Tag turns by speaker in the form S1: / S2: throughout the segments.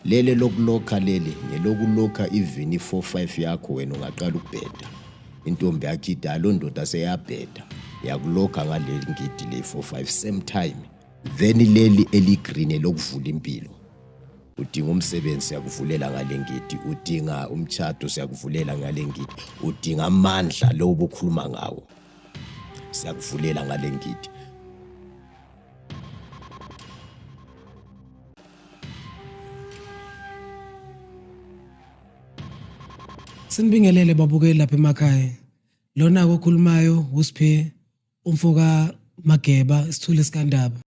S1: Lele lokulokha leli ngelokulokha even i-45 yakho wena ungaqala ukubheda intombi yakho idala loo ndoda seyabheda yakulokha ngaleli ngidi le-45 same time then leli eligreen elokuvula impilo udinga umsebenzi siyakuvulela ngale ngidi udinga umtshato siyakuvulela ngale ngidi udinga amandla lowo bokhuluma ngawo siyakuvulela ngale ngidi
S2: Sinibingelele babukeli lapha emakhaya. Lona kokhulumayo uSphe umfoka Mageba isithuli sikandaba.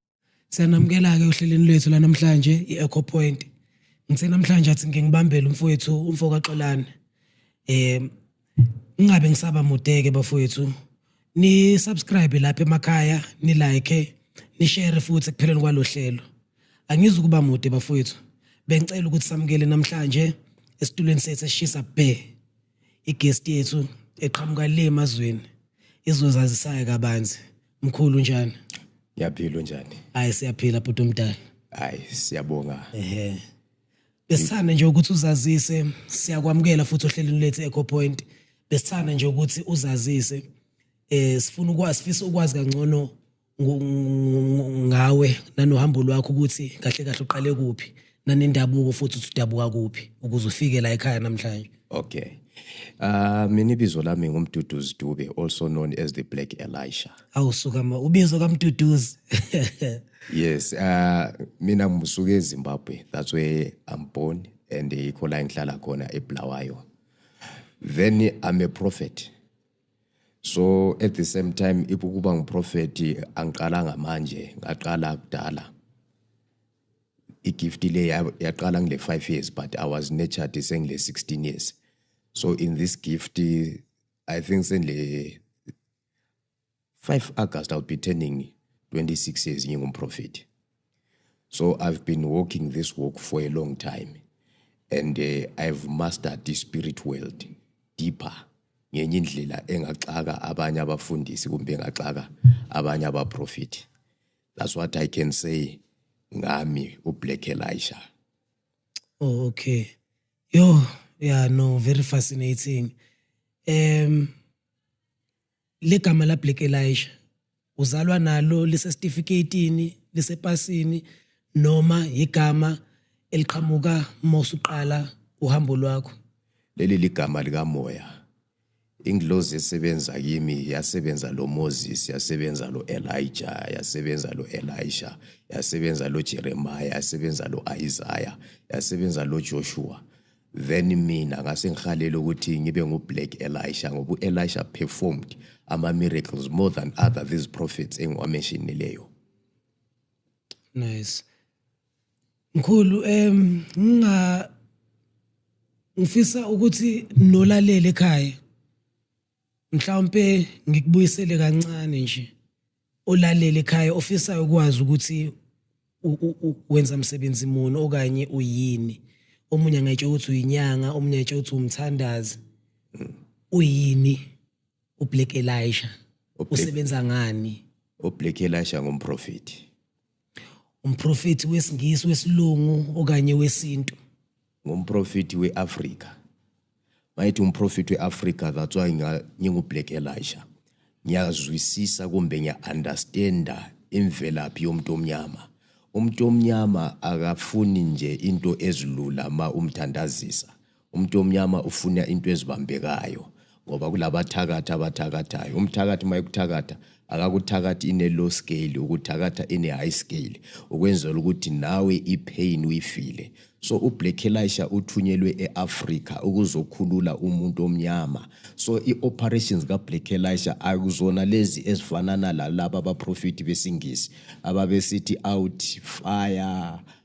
S2: Siyanamukela ke ohlelweni lwethu lanamhlanje iEco Point. Ngithe namhlanje athi ngingibambele umfowethu umfoka Xolani. Eh ngingabe ngisaba mudeke bafowethu ni subscribe lapha emakhaya ni like ni share futhi kupheleni kwalohlelo angizi kuba mude bafowethu bengicela ukuthi samukele namhlanje esitulweni sethu esishisa bhe igest yethu eqhamuka le emazweni izozazisayo kabanzi mkhulu njani ngiyaphila
S1: njani hayi siyaphila bhuti
S2: omdala hayi
S1: siyabonga ehe
S2: Besithanda nje ukuthi uzazise siyakwamukela futhi ohlelweni lethu Echo Point. Besithanda nje ukuthi uzazise eh sifuna ukwazi sifisa ukwazi kangcono ngo- ngo- ngawe nanohambo lwakho ukuthi kahle kahle uqale kuphi nanendabuko futhi uthi udabuka kuphi ukuze ufike la ekhaya namhlanje. Okay.
S1: Uh, mina ibizo lami ngumduduzi Dube also known as the Black Elisha. Awusuka ma ubizo
S2: kaMduduzi.
S1: yes uh mina ngisuke eZimbabwe that's where I'm born and ikho la ngihlala khona eBulawayo then I'm a prophet so at the same time ibukuba ngiprofeti angiqala ngamanje ngaqala kudala igift le yaqala ngile 5 years but i was nurtured sengile 16 years so in this gift i think sengile 5 August I'll be turning 26 years ngingumprofethi so I've been walking this walk for a long time and uh, I've mastered the spirit world deeper ngenye indlela engaxaka abanye abafundisi kumbe engaxaka abanye abaprofethi that's what I can say ngami uBlack Elisha
S2: oh okay yo yeah no very fascinating um legama la Black Elisha uzalwa nalo lisesitifiketini lisepasini noma igama eliqhamuka mose uqala uhambo lwakho leli ligama
S1: likamoya ingilozi esebenza kimi yasebenza lo Moses yasebenza lo Elijah yasebenza lo Elisha yasebenza lo Jeremiah yasebenza lo Isaiah yasebenza lo Joshua Then mina ngase ngihalela ukuthi ngibe ngu Black Elisha ngoba uElisha performed ama miracles more than other these prophets engiwamenshinileyo.
S2: Nice. Mkhulu em nginga ngifisa ukuthi nolalele ekhaya mhlawumpe ngikubuyisele kancane nje olalele ekhaya ofisayo ukwazi ukuthi wenza msebenzi muni okanye uyini omunye angayitsho ukuthi uyinyanga omunye ayitsho ukuthi umthandazi uyini uBlack Elisha usebenza ngani uBlack Elisha
S1: ngumprofeti
S2: umprofeti wesingisi wesilungu okanye wesintu ngomprofethi
S1: we-afrika mayethi umprofethi we-afrika that's why ngingu-black elisha ngiyazwisisa kumbe ngiya-understanda imvelaphi yomuntu omnyama umuntu omnyama akafuni nje into ezilula ma umthandazisa umuntu omnyama ufuna into ezibambekayo ngoba kulabathakathi abathakathayo umthakathi uma ekuthakatha akakuthakathi ine-low scale ukuthakatha ine-high scale ukwenzela ukuthi nawe ipain uyifile so ublack elisha uthunyelwe e-afrika ukuzokhulula umuntu omnyama so i-operations kablack elisha akuzona lezi ezifanana lalaba abaprofethi besingisi ababesithi out fire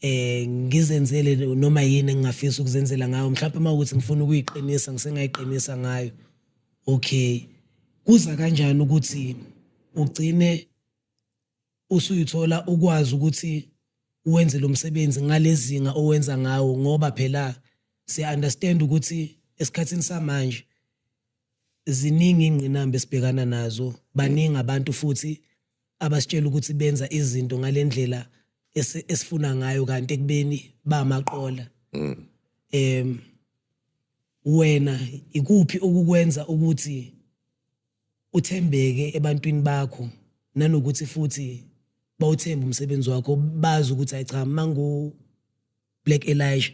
S2: eh ngizenzele noma yini engingafisa ukuzenzela ngayo mhlawumbe uma ukuthi ngifuna ukuyiqinisa ngisengayiqinisa ngayo okay kuza kanjani ukuthi ugcine usuyithola ukwazi ukuthi wenze lo msebenzi ngalezinga owenza ngawo ngoba phela siya understand ukuthi esikhathini samanje ziningi ingqinamba esibhekana nazo baningi abantu futhi abasitshela ukuthi benza izinto ngalendlela esifuna ngayo kanti ekubeni bamaqola mm. em wena ikuphi okukwenza ukuthi uthembeke ebantwini bakho nanokuthi futhi bawuthemba umsebenzi wakho bazi ukuthi ayi cha mangu Black Elijah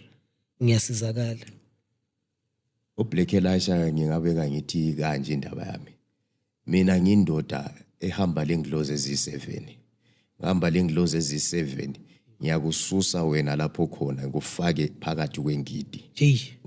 S2: ngiyasizakala
S1: uBlack Elisha ngingabeka ngithi kanje indaba yami mina ngindoda ehamba lengilozi eziyi-7 ngihamba lengilozi eziyi-7 ngiyakususa wena lapho khona ngikufake phakathi kwengidi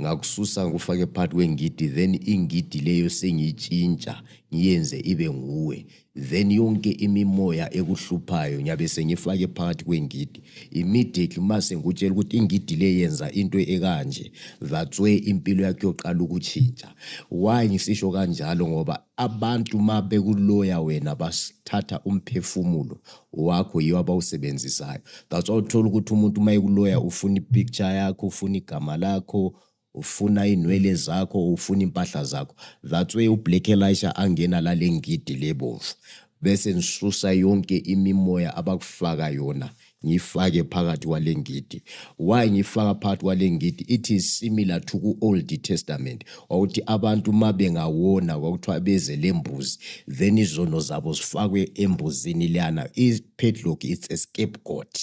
S1: ngakususa ngikufake phakathi kwengidi then ingidi leyo sengiyitshintsha ngiyenze ibe nguwe then yonke imimoya ekuhluphayo ngiyabe sengifake phakathi kwengidi immediately uma sengikutshela ukuthi ingidi le yenza into ekanje that's way impilo yakho yoqala ukutshintsha why ngisisho kanjalo ngoba abantu uma bekuloya wena basithatha umphefumulo wakho yiwo abawusebenzisayo that's why uthola ukuthi umuntu uma ekuloya ufuna ipicture yakho ufuna igama lakho ufuna inwele zakho ufuna impahla zakho that's way ublack elisha angena lale ngidi lebomvu bese nisusa yonke imimoya abakufaka yona ngifake phakathi kwale ngidi why ngifaka phakathi kwale ngidi it is similar to ku-old testament wawuthi abantu uma bengawona kwakuthiwa beze le mbuzi then izono zabo zifakwe embuzini leyana i-padlock it's a scapegoat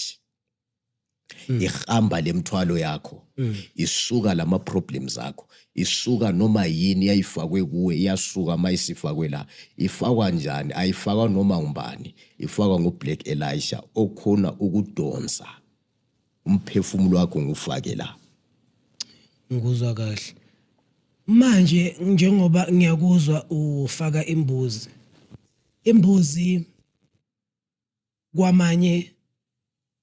S1: mm. ihamba lemthwalo yakho mm. isuka lama problems akho isuka noma yini yayifakwe kuwe iyasuka uma isifakwe la ifakwa njani ayifakwa noma ngubani ifakwa ngublack elisha okhona ukudonsa umphefumulo wakho ngufake la
S2: ngikuzwa kahle manje njengoba ngiyakuzwa ufaka imbuzi imbuzi kwamanye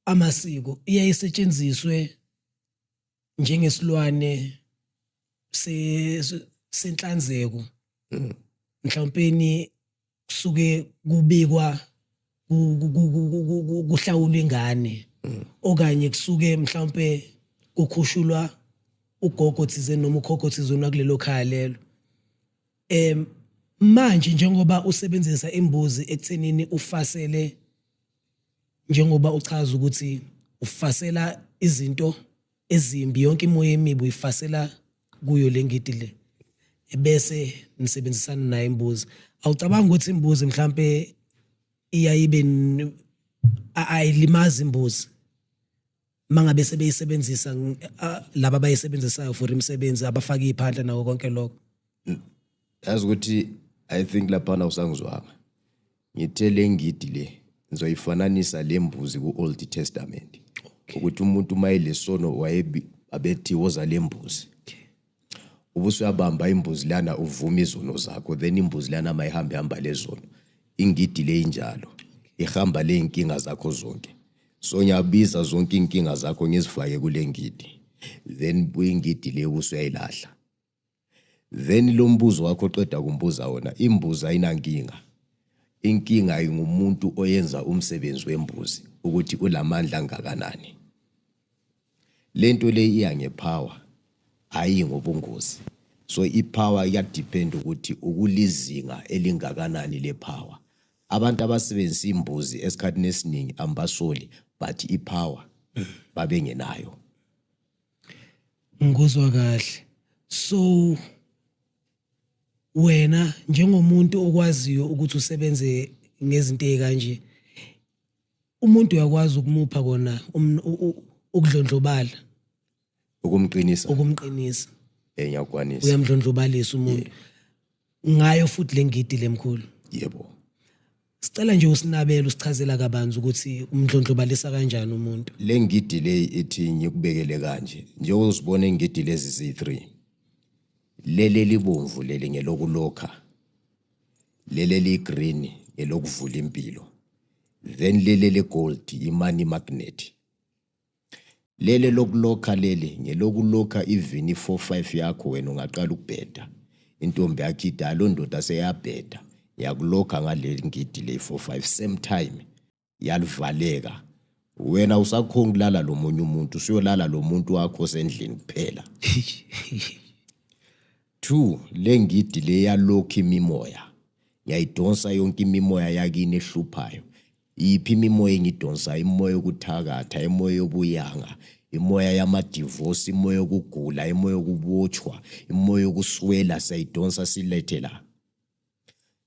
S2: amasiko iyaye isetshenziswe njengesilwane se senhlanzeko mm. mhlawumpeni kusuke kubikwa kuhlawulwa ingane mm. okanye kusuke mhlawumpe kukhushulwa ugogo thizeni noma ukhokho thizeni wakulelo khaya lelo Em manje njengoba usebenzisa imbuzi ekuthenini ufasele njengoba uchaza ukuthi ufasela izinto ezimbi yonke imoya emibi uyifasela kuyo lengidi le ebese nisebenzisana naye imbuzi awucabanga ukuthi imbuzi mhlambe iyayibe ayilimazi imbuzi mangabe sebeyisebenzisa laba abayisebenzisayo for imisebenzi abafaka iphandla nawo konke lokho
S1: yazi ukuthi i think laphana usangizwanga ngithe le ngidi le ngizoyifananisa le mbuzi ku-old testament ukuthi umuntu uma elesono wayebi abethi woza le mbuzi ubusuyabamba imbuzi lana uvuma izono zakho then imbuzi lana mayihambe hamba lezono ingidi le injalo ihamba le inkinga zakho zonke so ngiyabiza zonke inkinga zakho ngizifake kule ngidi then buyingidi le usuyayilahla then lo mbuzo wakho qeda kumbuza wona imbuzi ayinankinga inkinga ingumuntu oyenza umsebenzi wembuzi ukuthi ulamandla angakanani Lento le iya ngepower hayi ngobungozi. So ipower iyadepend ukuthi ukulizinga elingakanani lepower. Abantu abasebenzisa imbuzi esikhathini esiningi ambasoli but ipower babengenayo.
S2: Ngikuzwa kahle. So wena njengomuntu okwaziyo ukuthi usebenze ngezinto ezikanje umuntu uyakwazi ukumupha kona um- u- u- ukudlondlobala ukumqinisa ukumqinisa eh ngiyakwanisa
S1: uyamdlondlobalisa
S2: umuntu ngayo futhi lengidi lemkhulu yebo
S1: sicela
S2: nje usinabele usichazela kabanzi ukuthi umdlondlobalisa kanjani umuntu le ngidi le
S1: ethi ngikubekele kanje njengoba uzibona ingidi lezi zi3 leli libomvu leli ngelokulokha leli eliyi-green ngelokuvula impilo then leli eligold i-money magnet leli lokulokha leli ngelokulokha even i-four five yakho wena ungaqala ukubheda intombi yakho idalo ndoda seyabheda ngiyakulokha ngaleli ngidi le-four five same time yalivaleka wena usakhonga ukulala lo munye umuntu usuyolala lo muntu wakho osendlini kuphela two le ngidi le yalokhu imimoya ngiyayidonsa yonke imimoya yakini ehluphayo iphi imimoya engidonsa imoya yokuthakatha imoya yobuyanga imoya yamadivosi imoya yokugula imoya yokubotshwa imoya yokuswela siyayidonsa silethe la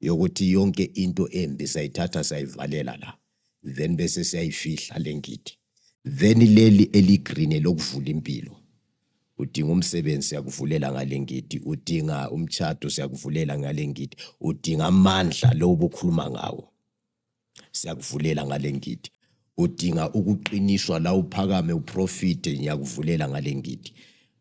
S1: yokuthi yonke into embi sayithatha sayivalela la then bese siyayifihla le ngidi then leli eligreen lokuvula impilo udinga umsebenzi siyakuvulela ngale ngidi udinga umtshado siyakuvulela ngale ngidi udinga amandla lo obukhuluma ngawo siyakuvulela ngale ngidi udinga ukuqiniswa la uphakame uprofite ngiyakuvulela ngale ngidi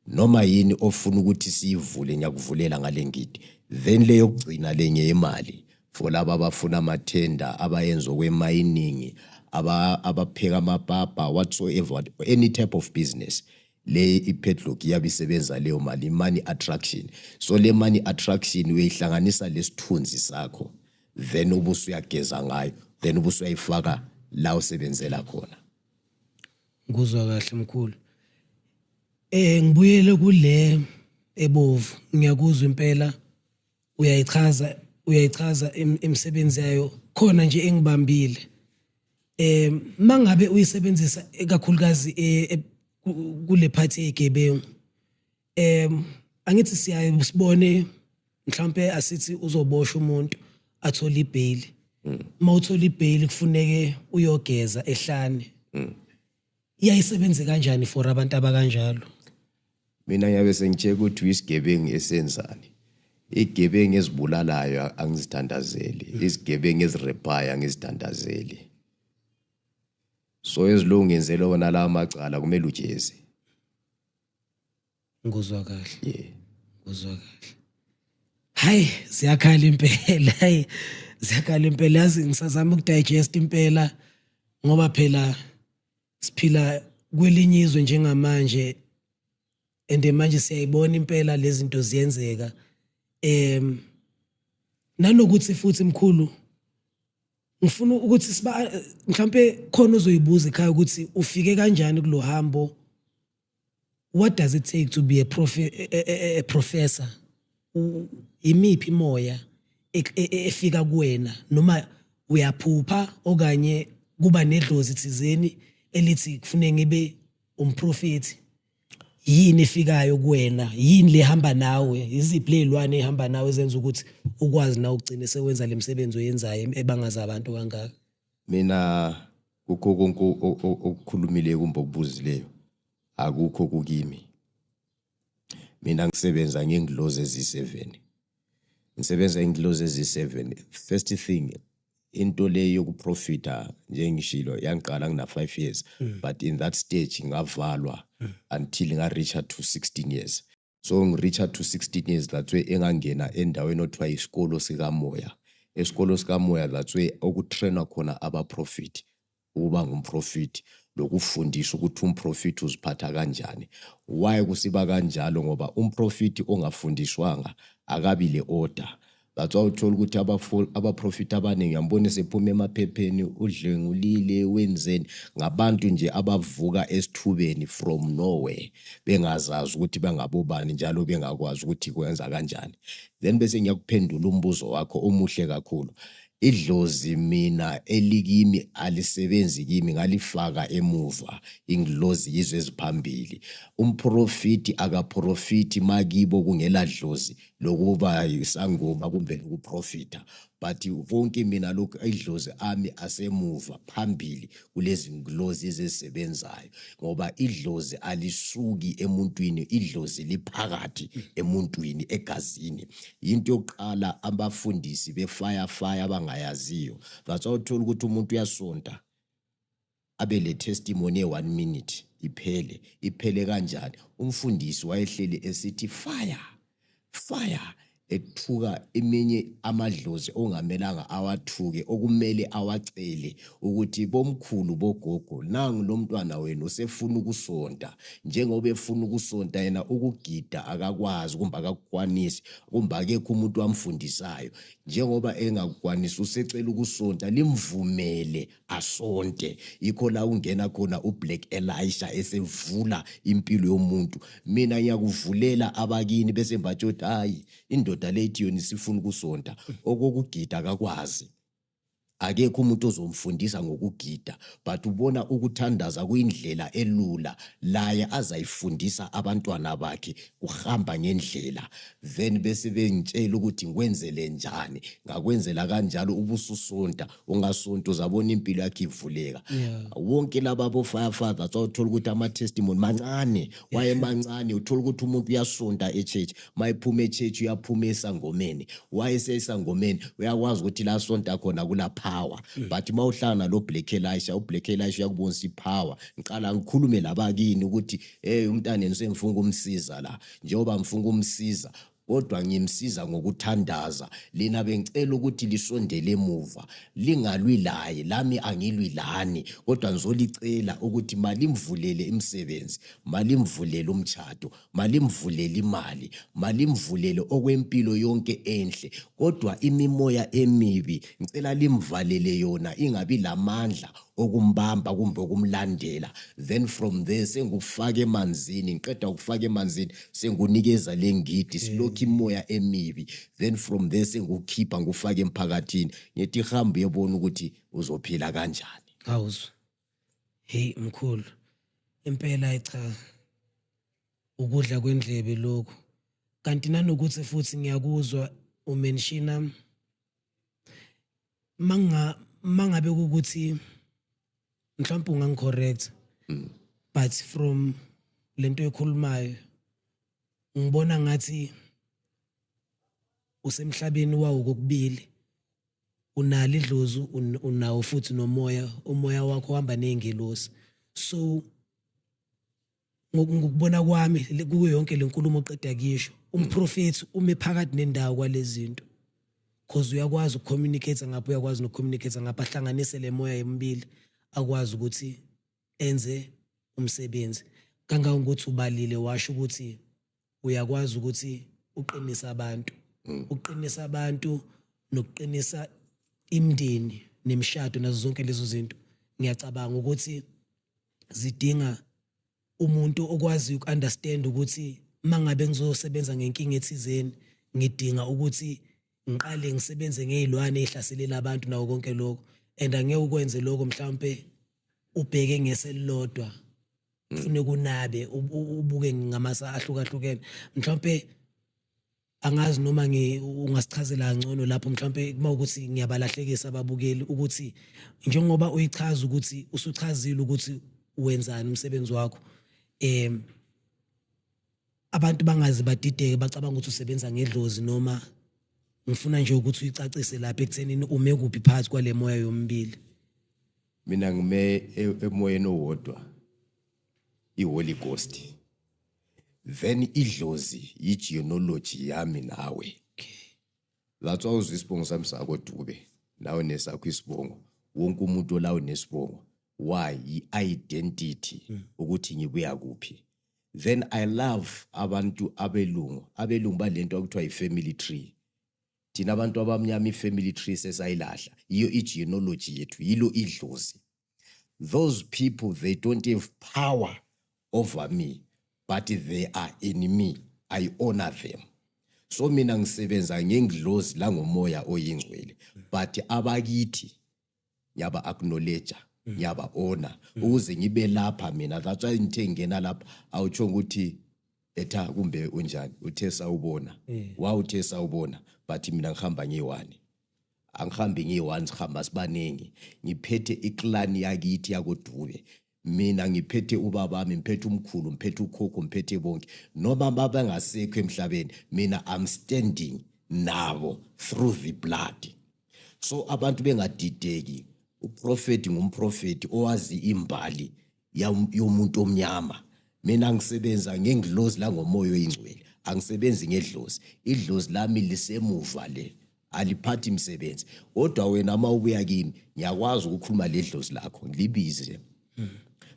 S1: noma yini ofuna ukuthi siyivule ngiyakuvulela ngale ngidi then le yokugcina le ngeyemali for laba abafuna amathenda abayenza okwemayiningi abapheka amapapa whatsoever any type of business le ipadlock iyabe isebenza leyo mali money attraction so le money attraction uyihlanganisa lesithunzi sakho then ubuso uyageza ngayo then ubuso uyayifaka la usebenzela khona
S2: nguzwa kahle mkhulu eh ngibuyele kule ebovu ngiyakuzwa impela uyayichaza uyayichaza imisebenzi yayo khona nje engibambile eh mangabe uyisebenzisa kakhulukazi eh, eh, kule phathi yegebengu em angithi siyaye sibone mhlambe asithi uzobosha umuntu athole ibail uma uthola ibail kufuneke uyogeza ehlane iyayisebenzi kanjani for abantu abakanjalo mina
S1: ngiyabe sengitsheka ukuthi uyisigebengu esenzani igebengu ezibulalayo angizithandazeli izigebengu ezirephayo angizithandazeli so ezilungenzelwe wona la macala kumele ujezi
S2: ngikuzwa kahle yeah ngikuzwa kahle hayi siyakhala impela hayi siyakhala impela yazi ngisazama ukudigest impela ngoba phela siphila kwelinye izwe njengamanje and manje siyayibona impela lezinto ziyenzeka em nanokuthi futhi mkhulu ngifuna ukuthi siba mhlambe khona uzoyibuza ekhaya ukuthi ufike kanjani kulohambo what does it take to be a, profe a, eh, a, eh, eh, a professor imiphi imoya e, e, e, efika kuwena noma uyaphupha okanye kuba nedlozi thizeni elithi kufuneka ngibe umprofethi yini efikayo kuwena yini lehamba nawe iziphi lezilwane ehamba nawe zenza ukuthi ukwazi na ukugcina sewenza lemsebenzi oyenzayo ebangaza abantu kangaka mina
S1: kukho konke okukhulumileyo kumbe okubuzileyo akukho kukimi mina ngisebenza ngengilozi eziyi-7 ngisebenza ingilozi eziyi-7 first thing into le yokuprofita njengishilo yangiqala ngina-5 years mm. but in that stage ngavalwa mm. until nga-reacha to 16 years so ngireacha to 16 years that's way engangena endaweni othiwa isikolo sikamoya esikolo sikamoya that's way okutrainwa khona abaprofit ukuba ngumprofit lokufundisa ukuthi umprofit uziphatha kanjani why kusiba kanjalo ngoba umprofit ongafundiswanga akabi le order That's why uthola ukuthi abaprofit abaningi yambona sephuma emaphepheni udlengulile wenzeni ngabantu nje abavuka esithubeni from nowhere bengazazi ukuthi bangabobani njalo bengakwazi ukuthi kwenza kanjani then bese ngiyakuphendula umbuzo wakho omuhle kakhulu idlozi mina elikimi alisebenzi kimi ngalifaka emuva ingilozi yizwe eziphambili umprofiti akaprofiti makibo kungeladlozi lokuba isangoma kumbe lokuprofitha but konke mina lokhu idlozi ami asemuva phambili kulezi nglozi ezisebenzayo ngoba idlozi alisuki emuntwini idlozi liphakathi emuntwini egazini into yokuqala abafundisi befire fire abangayaziyo that's why uthola ukuthi umuntu uyasonta abe le testimony ye one minute iphele iphele kanjani umfundisi wayehleli esithi fire fire ethuka eminye amadlozi ongamelanga awathuke okumele awacele ukuthi bomkhulu bogogo nangu lo mntwana wenu usefuna ukusonta njengoba efuna ukusonta yena ukugida akakwazi kumbe akakukwanisi kumbe akekho umuntu wamfundisayo njengoba engakukwanisi usecela ukusonta limvumele asonte yikho la ungena khona uBlack Elisha esevula impilo yomuntu mina ngiyakuvulela abakini bese mbathi uthi hayi indoda lethi yona isifuna ukusonta okokugida akakwazi akekho umuntu ozomfundisa ngokugida but ubona ukuthandaza kuyindlela elula laye azayifundisa abantwana bakhe kuhamba ngendlela then bese bengitshela ukuthi ngikwenzele njani ngakwenzela kanjalo ubususonta ungasuntu zabona impilo yakhe ivuleka wonke laba bo firefathers awuthola ukuthi ama testimony mancane waye mancane uthola ukuthi umuntu uyasunta e church mayiphuma e church uyaphuma esangomeni waye sesangomeni uyakwazi ukuthi la sonta khona kula power mm. but mawuhlangana lo Black Elisha u Black Elisha uyakubonisa i power ngiqala ngikhulume labakini ukuthi hey umntana ngisemfunga umsiza la njengoba ngifunga umsiza kodwa ngimsiza ngokuthandaza lina bengicela ukuthi lisondele emuva lingalwi laye lami angilwi lani kodwa ngizolicela ukuthi malimvulele imisebenzi malimvulele umtshato malimvulele imali malimvulele okwempilo yonke enhle kodwa imimoya emibi ngicela limvalele yona ingabi lamandla ukumbamba kumbe ukumlandela then from there sengufaka emanzini ngiqeda ukufaka emanzini sengunikeza le ngidi mm. silokhu imoya emibi then from there sengukhipha ngufake emphakathini ngithi hamba uyebona ukuthi uzophila kanjani awuzwa
S2: hey mkhulu impela cha ukudla kwendlebe lokhu kanti nanokuthi futhi ngiyakuzwa umenshina manga mangabe ukuthi mhlawumbe ungangicorrect mm. but from lento ekhulumayo ngibona ngathi usemhlabeni wawo kokubili unalo idlozu unawo futhi nomoya umoya wakho uhamba nezingelosi so ngokubona kwami kuyo yonke lenkulumo oqeda kuyisho umprofethi ume phakathi nendawo kwalezinto cause uyakwazi ukucommunicate ngapha uyakwazi nokucommunicate ngapha ahlanganise le moya emibili akwazi ukuthi enze umsebenzi kangangokuthi ubalile washo ukuthi uyakwazi ukuthi uqinise abantu mm. uqinisa abantu nokuqinisa imndeni nemishado nazo zonke lezo zinto ngiyacabanga ukuthi zidinga umuntu okwazi ukunderstand ukuthi mangabe ngizosebenza ngenkinga ethizeni ngidinga ukuthi ngiqale ngisebenze ngezilwane ezihlaselela abantu nawo konke lokho and angeke ukwenze lokho mhlawumbe ubheke ngeselilodwa ufune kunabe ubuke ngamasa ahlukahlukene mhlawumbe angazi noma ngi ungasichazela kangcono lapho mhlawumbe kuma ukuthi ngiyabalahlekisa ababukeli ukuthi njengoba uyichaza ukuthi usuchazile ukuthi wenzani umsebenzi wakho em abantu bangazi badideke bacabanga ukuthi usebenza ngedlozi noma ngifuna nje ukuthi uyicacise lapha ekuthenini ume kuphi phakathi kwale moya yombili mina
S1: ngime e- emoyeni owodwa iholy ghost then idlozi yigenealogy yami nawe that's why uzwa isibongo sami sakodube nawe nesakho isibongo wonke umuntu olawo nesibongo why yi-identity ukuthi ngibuya kuphi then i love abantu abelungu abelungu balento okuthiwa yi-family tree thina abantu abamnyama i-family tree sesayilahla yiyo i-genealogy yethu yilo idlozi those people they don't have power over me but they are in me i honor them so mina ngisebenza ngengidlozi langomoya oyingcwele but abakithi ngiyaba acknowledge mm. ngiyaba ona mm. ukuze ngibe lapha mina that's why ngithe ngena lapha awutsho ukuthi etha kumbe unjani uthe sawubona eh. wa uthe sawubona but mina ngihamba ngiyiwani angihambi ngiyi-one sihamba sibaningi ngiphethe iclan yakithi yakodube mina ngiphethe ubabami ngiphethe umkhulu ngiphethe ukhokho ngiphethe bonke noma babengasekho emhlabeni mina i'm standing nabo through the blood so abantu bengadideki uprofeti ngumprofeti owazi imbali yomuntu omnyama mina ngisebenza ngengilozi langomoya oyingcwele angisebenzi ngedlozi idlozi lami lisemuva le aliphathi msebenzi kodwa wena uma ubuya kimi ngiyakwazi ukukhuluma le dlozi lakho ngilibize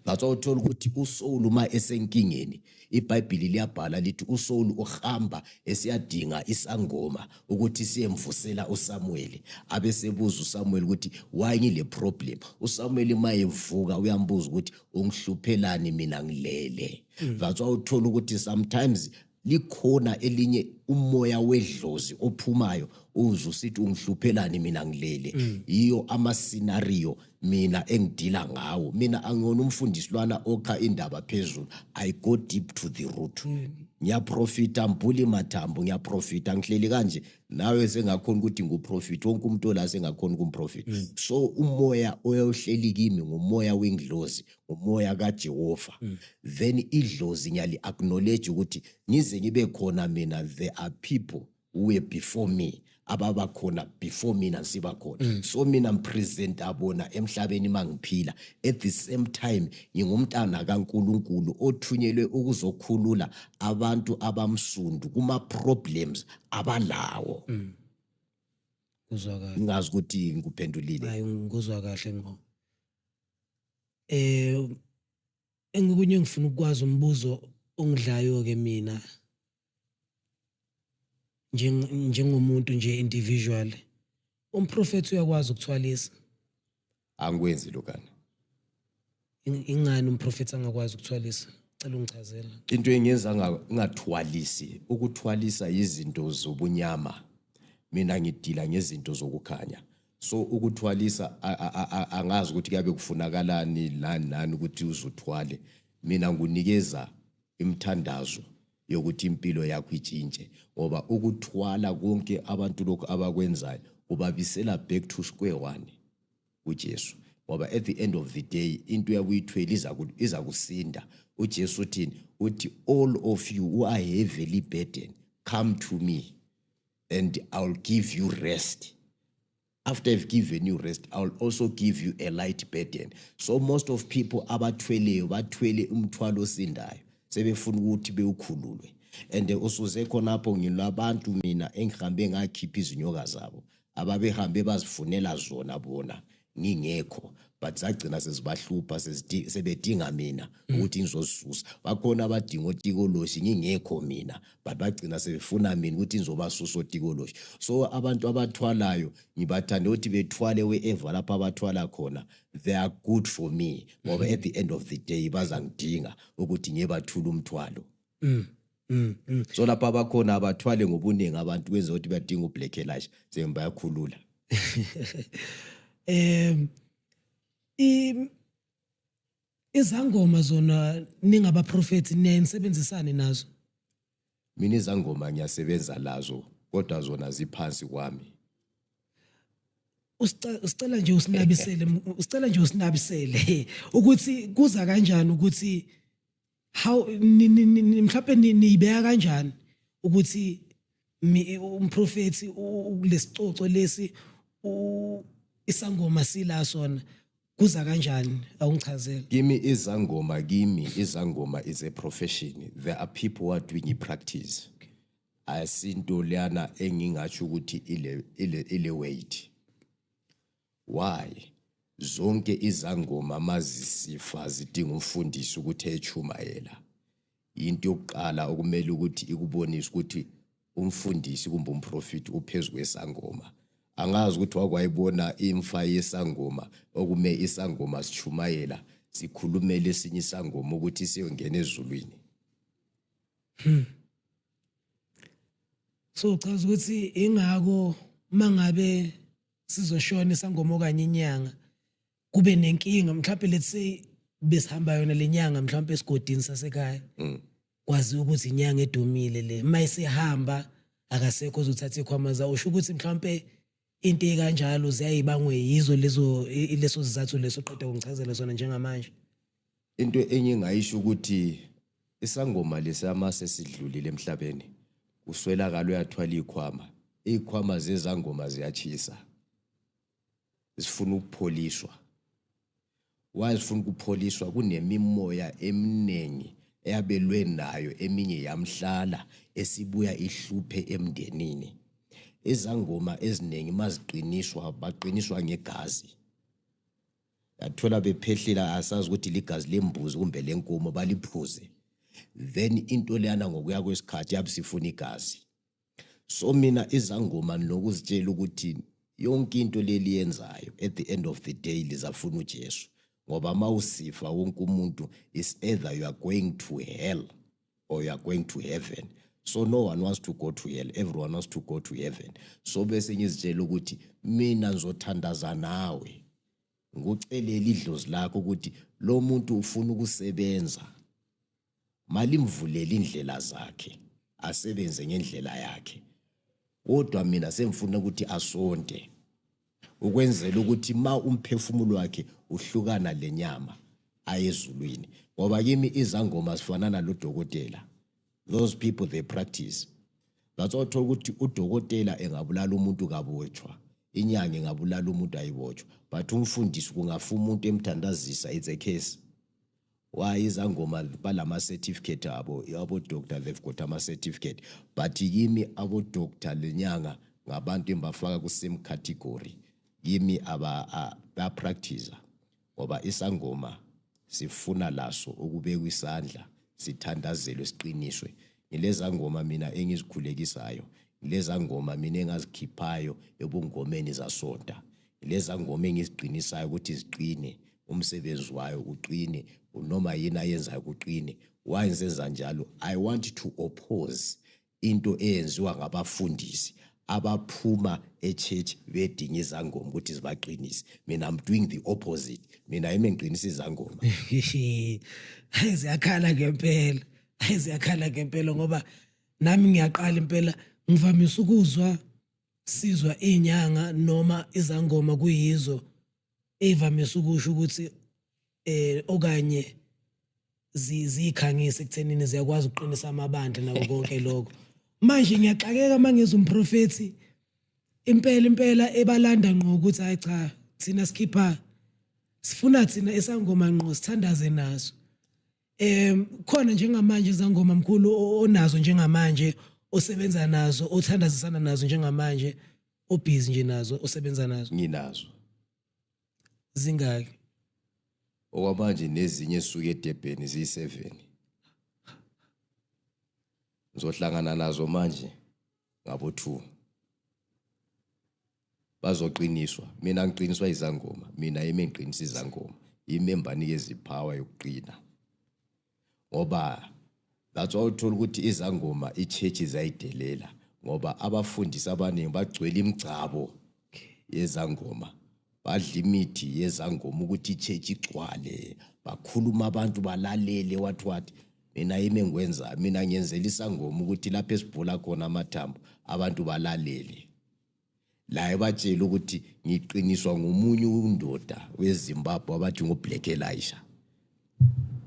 S1: ngathiwa uthola ukuthi usowulu uma esenkingeni ibhayibhili liyabhala lithi usowulu uhamba esiyadinga isangoma ukuthi siyemvusela usamuweli abe sebuza usamuweli ukuthi why ngile problem usamuweli uma evuka uyambuza ukuthi ungihluphelani mina ngilele hmm. that's why uthola ukuthi sometimes likhona elinye umoya wedlozi ophumayo uze usithi ungihluphelani mina ngilele mm. yiyo ama scenario mina engidila ngawo mina angiyona umfundisi lwana okha indaba phezulu i go deep to the root mm. ngiyaprofita mbhuli mathambo ngiyaprofita ngihleli kanje nawe sengakhona ukuthi nguprofit wonke umuntu ola sengakhona ukumprofit mm. so umoya oyohleli kimi ngumoya wenglozi umoya kaJehova mm. then idlozi ngiyali acknowledge ukuthi ngize ngibe khona mina there are people who were before me ababa khona before mina siba khona mm. so mina ngipresent abona emhlabeni mangiphila at the same time ngingumntana kaNkuluNkulu othunyelwe ukuzokhulula abantu abamsundu kuma problems abalawo mm.
S2: ngizwa kahle ngazi ukuthi
S1: ngikuphendulile hayi ngizwa
S2: kahle ngo eh engikunye ngifuna ukwazi umbuzo ongidlayo ke mina njengomuntu nje individual umprofethi uyakwazi ukuthwalisa
S1: angikwenzi lokana
S2: ingani umprofethi angakwazi ukuthwalisa cela ungichazela into engenza
S1: ngathwalisi ukuthwalisa izinto zobunyama mina ngidila ngezinto zokukhanya so ukuthwalisa angazi ukuthi kuyabe kufunakalani lani nani ukuthi uzuthwale mina ngunikeza imthandazo yokuthi impilo yakho itshintshe ngoba ukuthwala konke abantu lokhu abakwenzayo ubabisela back to square one uJesu ngoba at the end of the day into yakuyithwele iza kusinda uJesu uthini uthi all of you who are heavily burdened come to me and I'll give you rest. After I've given you rest, I'll also give you a light burden. So most of people abathweleyo bathwele umthwalo osindayo sebefuna ukuthi bewukhululwe and usuze khonapho ngilabantu mina engihambe ngakhipha izinyoka zabo ababehambe bazifunela zona bona ngingekho but zagcina sezibahlupha sebedinga mina mm. ukuthi ngizozisusa bakhona abadinga otikoloshi ngingekho mina but bagcina sebefuna mina ukuthi ngizobasusa otikoloshi so abantu abathwalayo ngibathanda ukuthi bethwale wherever lapho abathwala khona they are good for me ngoba mm. at the end of the day bazangidinga ukuthi ngiyebathula umthwalo mm. Mm, mm. so lapho abakhona abathwale ngobuningi abantu kwenza ukuthi badinga ublack elash sebe bayakhulula
S2: um izangoma zona ningabaprofethi niyayinisebenzisane nazo mina
S1: izangoma ngiyasebenza lazo kodwa zona ziphansi kwami
S2: usicela nje usinabisele usicela nje usinabisele ukuthi kuza kanjani ukuthi how mhlawumbe niyibeka kanjani ukuthi umprofethi kulesicoco lesi isangoma sila sona kuza kanjani awungichazele kimi izangoma
S1: kimi izangoma is a profession there are people who are doing practice asinto lana engingathi ukuthi ile ile ile weight Why zonke izangoma mazisifa zidinga umfundisi ukuthi echumayela into yokuqala okumele ukuthi ikubonise ukuthi umfundisi kumbe umprofiti uphezu kwesangoma angazi ukuthi wakwayibona imfa yesangoma okume isangoma sichumayela sikhulumele esinye isangoma ukuthi siyongena ezulwini hmm.
S2: so uchaza ukuthi ingako mangabe sizoshona isangoma okanye inyanga kube nenkinga mhlawumbe let's say besihamba yona lenyanga mhlawumbe esigodini sasekhaya mm. kwazi ukuthi inyanga edumile le mayisihamba akasekho ozothatha ikhwama zawo usho ukuthi mhlawumbe into ekanjalo ziyayibangwe yizo lezo leso sizathu leso qeda kungichazela sona njengamanje into
S1: enye engayisho ukuthi isangoma lesama sesidlulile emhlabeni uswelakala uyathwala ikhwama ikhwama zezangoma ziyachisa zifuna ukupholiswa wazifuna ukupholiswa kunemimoya eminingi eyabelwe nayo eminye yamhlala esibuya ihluphe emndenini izangoma eziningi maziqiniswa baqiniswa ngegazi yathola bephehlila asazi ukuthi ligazi lembuzi kumbe lenkomo baliphuze then into leyana ngokuya kwesikhathi yabe sifuna igazi so mina izangoma nokuzitshela ukuthi yonke into leli yenzayo at the end of the day lizafuna uJesu ngoba mawusifa wonke umuntu is either you are going to hell or you are going to heaven so no one wants to go to hell everyone wants to go to heaven so bese ngizitshela ukuthi mina ngizothandaza nawe ngocelela idlozi lakho ukuthi lo muntu ufuna ukusebenza malimvulele indlela zakhe asebenze ngendlela yakhe kodwa mina sengifuna ukuthi asonte ukwenzela ukuthi ma umphefumulo wakhe uhlukana lenyama ayezulwini ngoba kimi izangoma sifana nalodokotela those people they practice that's why uthola ukuthi udokotela engabulala umuntu kabotshwa inyanga ingabulala umuntu ayibotshwa but umfundisi kungafa umuntu emthandazisa it's a case why izangoma balama certificate abo abo doctor they've got ama certificate but kimi abo doctor lenyanga ngabantu embafaka ku same category kimi aba ba practice ngoba isangoma sifuna laso ukubekwa isandla sithandazelwe siqiniswe ngileza ngoma mina engizikhulekisayo ngileza ngoma mina engazikhiphayo ebungomeni zasonta lezangoma engiziqinisayo ukuthi ziqine umsebenzi wayo uqine noma yini ayenzayo kuqine why ngisenza njalo i want to oppose into eyenziwa ngabafundisi abaphuma echurch bedinga izangoma ukuthi zibaqinise mina i'm doing the opposite mina yimi ngiqinisa izangoma hayi
S2: ziyakhala ngempela hayi ziyakhala ngempela ngoba nami ngiyaqala impela ngivamise ukuzwa Sizwa inyanga noma izangoma kuyizo evamise ukusho ukuthi eh okanye ziyikhangisa ekuthenini ziyakwazi ukuqinisa amabandla nako konke lokho manje ngiyaxakeka mangiza umprofethi impela impela ebalanda ngqo ukuthi hayi cha thina sikhipha sifuna thina esangoma ngqo sithandaze naso um khona njengamanje zangoma mkhulu onazo njengamanje osebenza nazo othandazisana nazo njengamanje obhizi nje nazo osebenza nazo nginazo
S1: zingaki
S2: okwamanje
S1: nezinye suke edebheni ziyi-7 ngizohlangana nazo manje ngabo-2 bazoqiniswa mina ngiqiniswa izangoma mina yimi ngiqinisa izangoma yimi embanike iziphawa yokuqina ngoba that's why uthola ukuthi izangoma ichurch zayidelela ngoba abafundisi abaningi bagcwele imigcabo yezangoma badla imithi yezangoma ukuthi ichurch igcwale bakhuluma abantu balalele what what mina yimi engikwenzayo mina ngiyenzela isangoma ukuthi lapho esibhula khona amathambo abantu balalele la ebatshela ukuthi ngiqiniswa ngomunye undoda wezimbabwe abathi ngoblack elisha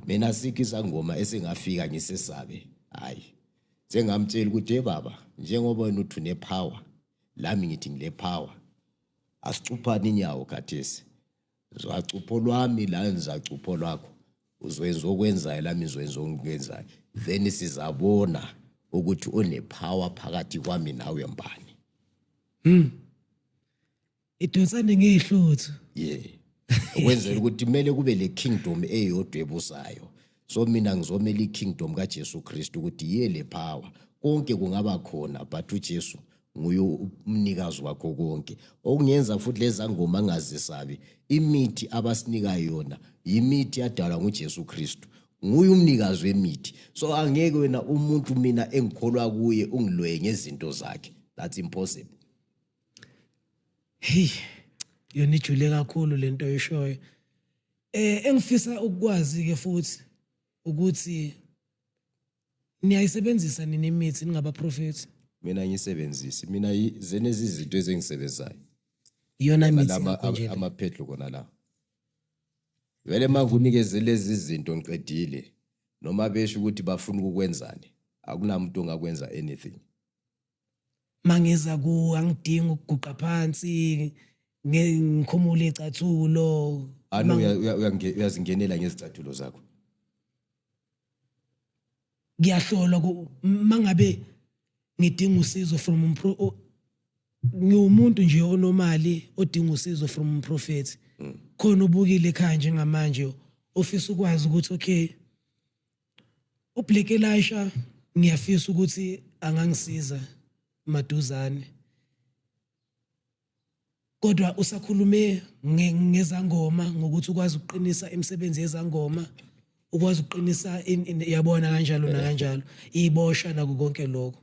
S1: mina sikho isangoma esingafika ngisesabe hhayi sengamtshela ukuthi ebaba njengoba wena uthi unepower lami ngithi ngile power asicuphani inyawo khathesi ngizwacupho lwami la ngizwacupho lwakho uzwenza okwenzayo lami ngizwenza okwenzayo then sizabona ukuthi unepower phakathi kwami nawe mbani hmm
S2: idonsane ngehluthu yeah
S1: ukwenzela ukuthi kumele kube le kingdom eyodwa ebusayo so mina ngizomela ikingdom kaJesu Kristu ukuthi yiye le power konke kungaba khona but uJesu nguye umnikazi wakho konke okungenza futhi leza ngoma angazisabi imithi abasinika yona yimithi yadalwa nguJesu Kristu nguye umnikazi wemithi so angeke wena umuntu mina engikholwa kuye ungilwe ngezinto zakhe that's impossible
S2: hey yona ijule kakhulu lento oyishoyo Eh engifisa ukukwazi ke futhi ukuthi niyayisebenzisa nini imithi ningabaprofethi? Mina ngiyisebenzisi.
S1: Mina zenezi izinto ezengisebenzayo. Iyona
S2: imithi lama amaphedlo kona la.
S1: Vele manje unikeze lezi zinto ngiqedile noma besho ukuthi bafuna ukukwenzani akunamuntu ongakwenza anything.
S2: mangiza ku angidingi ukuguqa phansi ngikhumule icathulo ano
S1: uyazingenela ngezicathulo zakho
S2: ngiyahlolwa mangabe ngidinga usizo from umpro ngiwumuntu nje onomali odinga usizo from umprofethi mm. khona ubukile ekhaya njengamanje ofisa ukwazi ukuthi okay UBlack Elisha ngiyafisa ukuthi angangisiza maduzane. Kodwa usakhulume ngezangoma ngokuthi ukwazi ukuqinisa imisebenzi yezangoma ukwazi ukuqinisa yabona kanjalo na kanjalo ibosha naku konke lokho.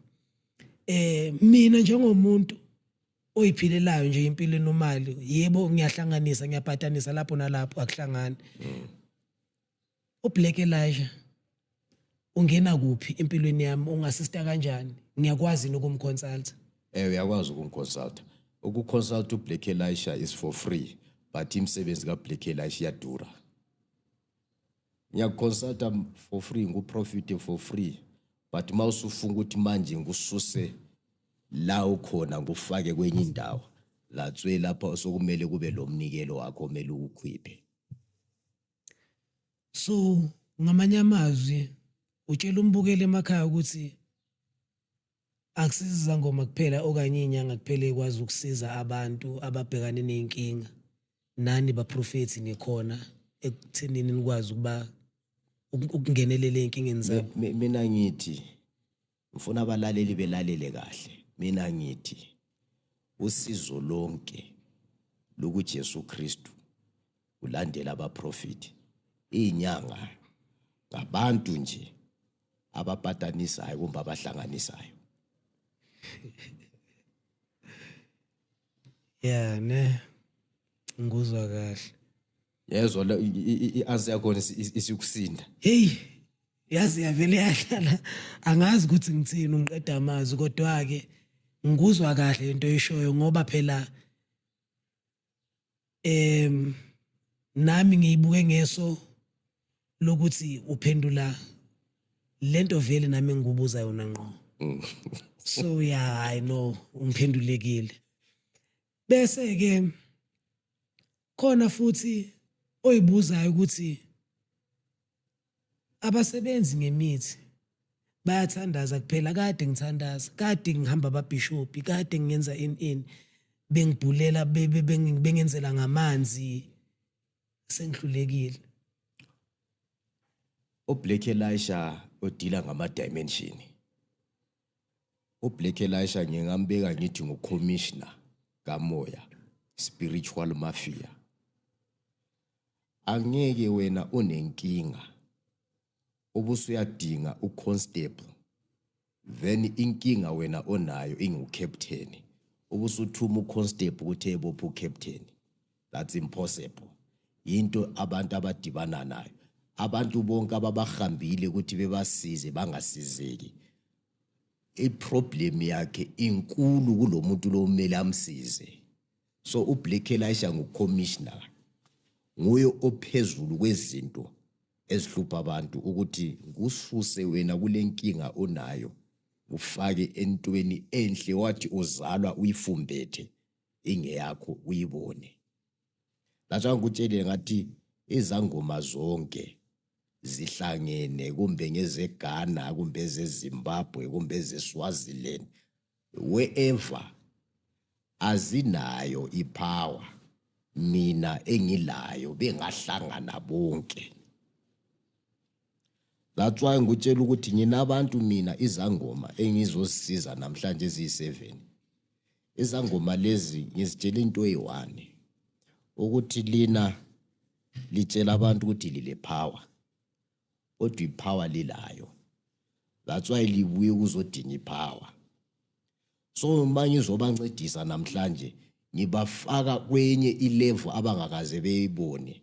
S2: Eh mina njengomuntu oyiphilelayo nje impilo enomali yebo ngiyahlanganisa ngiyabhatanisa lapho nalapho akuhlangani. Mm. UBlack Elijah ungena kuphi empilweni yami ungasista kanjani ngiyakwazi nokumconsulta eh uyakwazi
S1: ukumconsulta ukuconsulta uBlack Elijah is for free but imsebenzi kaBlack Elijah iyadura ngiyakuconsulta for free nguprofit for free but uma usufunga ukuthi manje ngikususe la ukhona ngufake kwenye indawo latswe lapha sokumele kube lo mnikelo wakho omele uwukhiphe
S2: so ngamanye amazwi utshela umbukeli emakhaya ukuthi akusiza izangoma kuphela okanye iy'nyanga kuphela ekwazi ukusiza abantu ababhekane ney'nkinga nani baprofethi nikhona ekuthenini nikwazi ukuba ukungenelela ey'nkingeni zabo mina ngithi
S1: Ngifuna abalaleli belalele kahle. Mina ngithi usizo lonke lokuJesu Kristu ulandela abaprofiti inyanga ngabantu nje abapatanisayo kumbe abahlanganisayo
S2: yeah ne ngikuzwa kahle yezwa
S1: la i- i- i- i-azi yakhona isi- isi- isikusinda heyi
S2: yazi yavele yahlala angazi ukuthi ngithini ungiqeda amazwi kodwa-ke ngikuzwa kahle into oyishoyo ngoba phela em nami ngiyibuke ngeso lokuthi uphendula lento vele nami engikubuza yona ngqo so ya hayi no ungiphendulekile Bese ke khona futhi oyibuzayo ukuthi abasebenzi ngemithi bayathandaza kuphela kade ngithandaza kade ngihamba ababhishopi kade ngenza in in bengibhulela bengenzela ngamanzi sengihlulekile
S1: uBlack Elisha odila ngama dimension uBlack Elisha ngingambeka ngithi ngucommissioner kamoya spiritual mafia angeke wena unenkinga ubusuyadinga uconstable then inkinga wena onayo ingukapteni ubusuthuma uconstable ukuthi ebopha ucaptain that's impossible into abantu abadibana nayo abantu bonke ababahambile ukuthi bebasize bangasizeki iproblem yakhe inkulu kulomuntu lomele amsize so ublack elisha ngucommissioner nguye ophezulu kwezinto ezihlupha abantu ukuthi kususe wena kule nkinga onayo ufake entweni enhle wathi uzalwa uyifumbethe ingeyakho uyibone that's why ngikutshelile ngathi izangoma zonke zihlangene kumbe ngezeGhana kumbe ezeZimbabwe kumbe ezeSwaziland wherever azinayo ipower mina engilayo bengahlangana bonke That's why ngikutshela ukuthi nginabantu mina izangoma engizozisiza namhlanje eziyi-7. Izangoma lezi ngizitshela into eyi-one ukuthi lina litshela abantu ukuthi lile power kodwa i-power lilayo. That's why libuye ukuzodinga i-power. So uma ngizobancedisa namhlanje ngibafaka kwenye i-level abangakaze beyibone.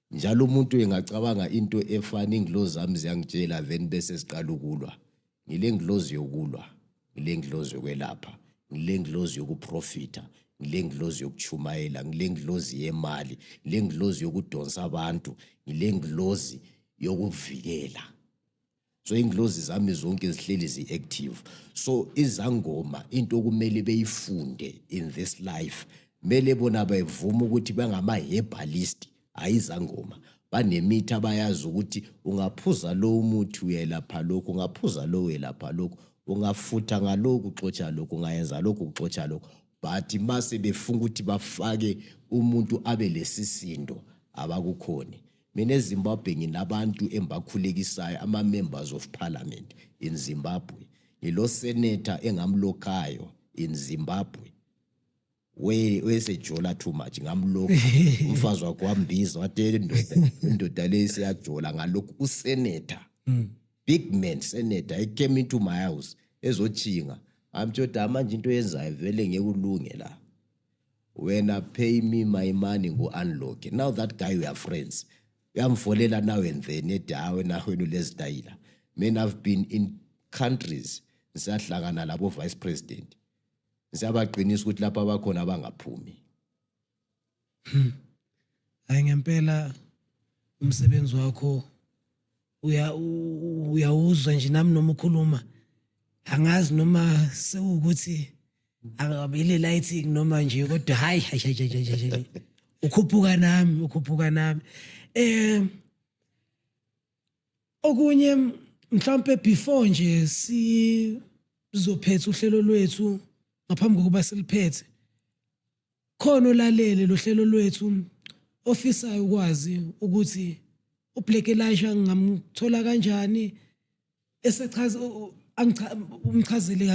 S1: Njalo umuntu engacabanga into efana ingilozi zami ziyangitshela then bese siqala ukulwa. Ngile ngilozi yokulwa, ngile ngilozi yokwelapha, ngile ngilozi yokuprofitha, ngile ngilozi yokuchumayela, ngile ngilozi yemali, ngile ngilozi yokudonsa abantu, ngile ngilozi yokuvikela. so inglozi zami zonke zihleli zi-active so izangoma into okumele beyifunde in this life mele bona bevuma ukuthi bangama-herbalist hhayi izangoma banemithi abayazi ukuthi ungaphuza lo umuthi uyelapha lokhu ungaphuza lo uyelapha lokhu ungafutha ngaloku uxotsha lokhu ungayenza lokhu uxotsha lokhu but uma sebefuna ukuthi bafake umuntu abe lesisindo abakukhoni Mina eZimbabwe nginabantu engibakhulekisayo ama members of parliament in Zimbabwe. Ngilo senator engamlokhayo in Zimbabwe. We wesejola too much ngamlokha umfazi wakho wambiza watela indoda indoda le isiyajola ngalokhu usenator. Mm. Big man senator he came into my house ezochinga. Amtshoda manje into yenzayo vele ngeke ulunge la. wena pay me my money ngu-unlock now that guy we are friends uyamfolela now and then ethi hayi wena wena ulezitayila men have been in countries ngisahlangana labo vice president ngisabaqinisa ukuthi lapha abakhona abangaphumi hmm.
S2: hayi ngempela umsebenzi wakho uya uyawuzwa nje nami noma ukhuluma angazi noma sewukuthi akabile lighting noma nje kodwa hayi hayi ukhuphuka nami ukhuphuka nami eh okunye mhlawumbe before nje sizophetha uhlelo lwethu ngaphambi kokuba siliphethe Khona olalele lohlelo lwethu ofisayo ukwazi ukuthi uBlack Elisha ngamthola kanjani esechaza umchazele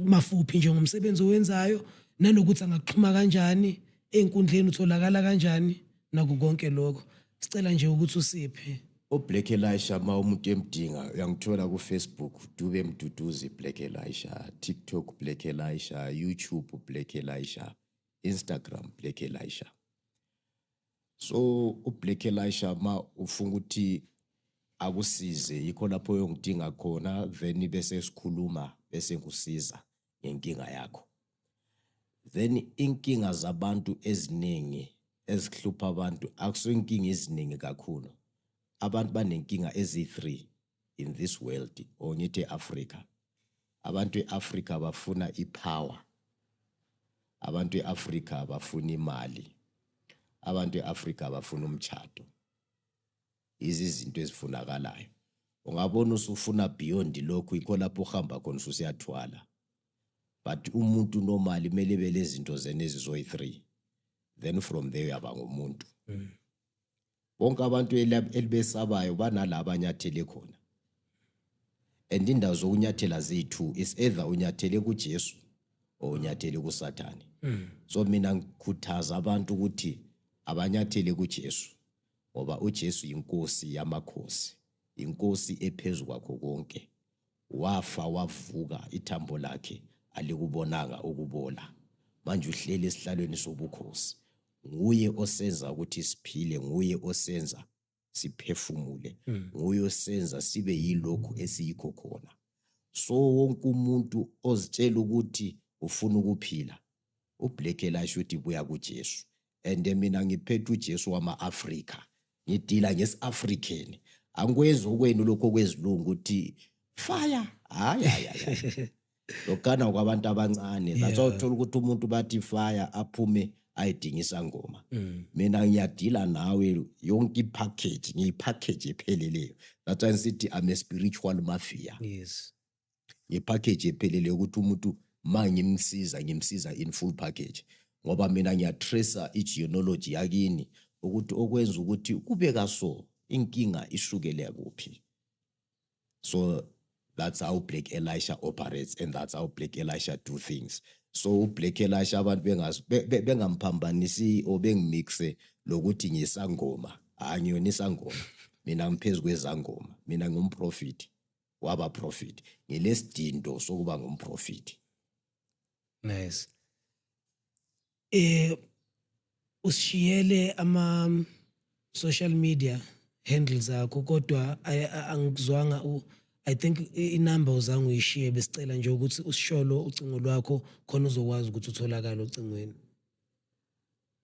S2: mafuphi nje ngomsebenzi owenzayo nanokuthi angaxhuma kanjani ezinkundleni utholakala kanjani naku konke lokho sicela nje ukuthi usiphe oblack elisha
S1: ma umuntu emdinga uyangithola kufacebook dube mduduzi black elisha tiktok black elisha youtube black elisha instagram black elisha so ublack elisha ma ufunga ukuthi akusize yikho lapho uyongidinga khona then bese sikhuluma bese ngikusiza ngenkinga yakho then inkinga zabantu eziningi ezihlupha abantu akuso inkinga eziningi kakhulu abantu banenkinga ezi-3 in this world or ngithi e-afrika abantu e-afrika bafuna i-power abantu e-afrika bafuna imali abantu e-afrika bafuna umtshato izizinto ezifunakalayo ungabona usufuna beyond lokhu yikho lapho uhamba khona ususiyathwala but umuntu normally kumele bele zinto zena ezizoyi 3 then from there uyaba ngomuntu mm. bonke abantu elibesabayo banala abanyathele khona and indawo zokunyathela zethu is either unyathele kuJesu or unyathele kuSathane mm. so mina ngikhuthaza abantu ukuthi abanyathele kuJesu ngoba uJesu inkosi yamakhosi inkosi ephezulu kwakho konke Wafa wavuka ithambo lakhe alikubonanga ukubola. Manje uhleli esihlalweni sobukhosi. Nguye osenza ukuthi siphile, nguye osenza siphefumule, hmm. nguye osenza sibe yilokhu esiyikho khona. So wonke umuntu ozitshela ukuthi ufuna ukuphila, ublack elasho ukuthi buya kuJesu. and mina ngiphethe uJesu wama-Afrika ngidila ngesi-African angikwenzi okwenu lokho kwezilungu ukuthi fire hayi hayi hayi lokana kwabantu abancane that's why uthola ukuthi umuntu bathi fire aphume ayidinga isangoma mm. mina ngiyadila nawe yonke ipackage ngiyipackage epheleleyo that's why ngisithi i'm a spiritual mafia yes
S2: ngepackage
S1: ephelele yokuthi umuntu ma ngimsiza ngimsiza in full package ngoba mina ngiyatracer i-genealogy yakini ukuthi okwenza ukuthi kube kaso inkinga isukele kuphi so that's how black elisha operates and that's how black elisha do things so ublack elisha abantu bengamphambanisi or bengimixe lokuthi ngisangoma hhayi ngiyona isangoma mina ngiphezu kwezangoma mina ngumprofiti waba profit ngelesidindo sokuba ngumprofit
S2: nice eh usishiyele ama social media handles akho kodwa angikuzwanga u I think inumber uzange uyishiye besicela nje ukuthi usisholo ucingo lwakho khona uzokwazi ukuthi utholakala ocingweni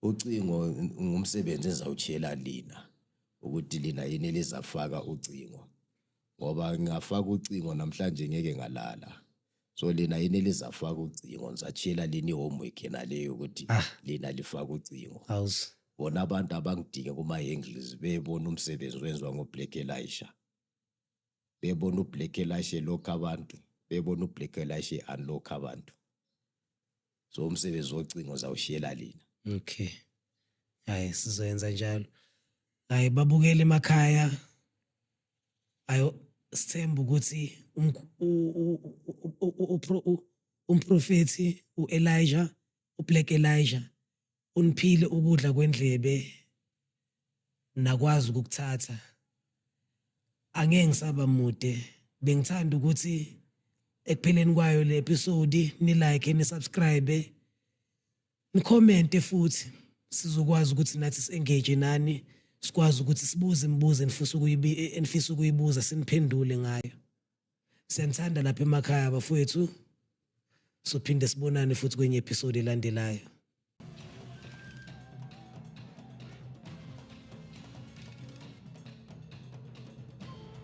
S1: Ucingo ngumsebenzi engizawuchiyela lina ukuthi lina yini elizafaka ucingo ngoba ngingafaka ucingo namhlanje ngeke ngalala so lina yini elizafaka ucingo ngisachiyela lina i-homework yena leyo ukuthi Ah. lina lifaka ucingo Awuzi. bona
S2: abantu
S1: abangidinge kuma-angles bebona umsebenzi wenziwa ngoblack elisha bebona uBlack Elisha lokho abantu bebona uBlack Elisha unlock abantu so umsebenzi wocingo zawushiyela lina okay
S2: hayi sizoyenza njalo hayi babukele emakhaya ayo sithemba ukuthi umprofethi uElijah uBlack Elijah uniphile ukudla kwendlebe nakwazi ukukuthatha angeke ngisaba mude bengithanda ukuthi ekupheleni kwayo le episode ni like ni subscribe ni comment futhi sizokwazi ukuthi nathi si-engage nani sikwazi ukuthi sibuze imibuzo enifisa ukuyibuza siniphendule ngayo Siyanithanda lapha emakhaya abafowethu. Sophinde sibonane futhi kwenye episode elandelayo.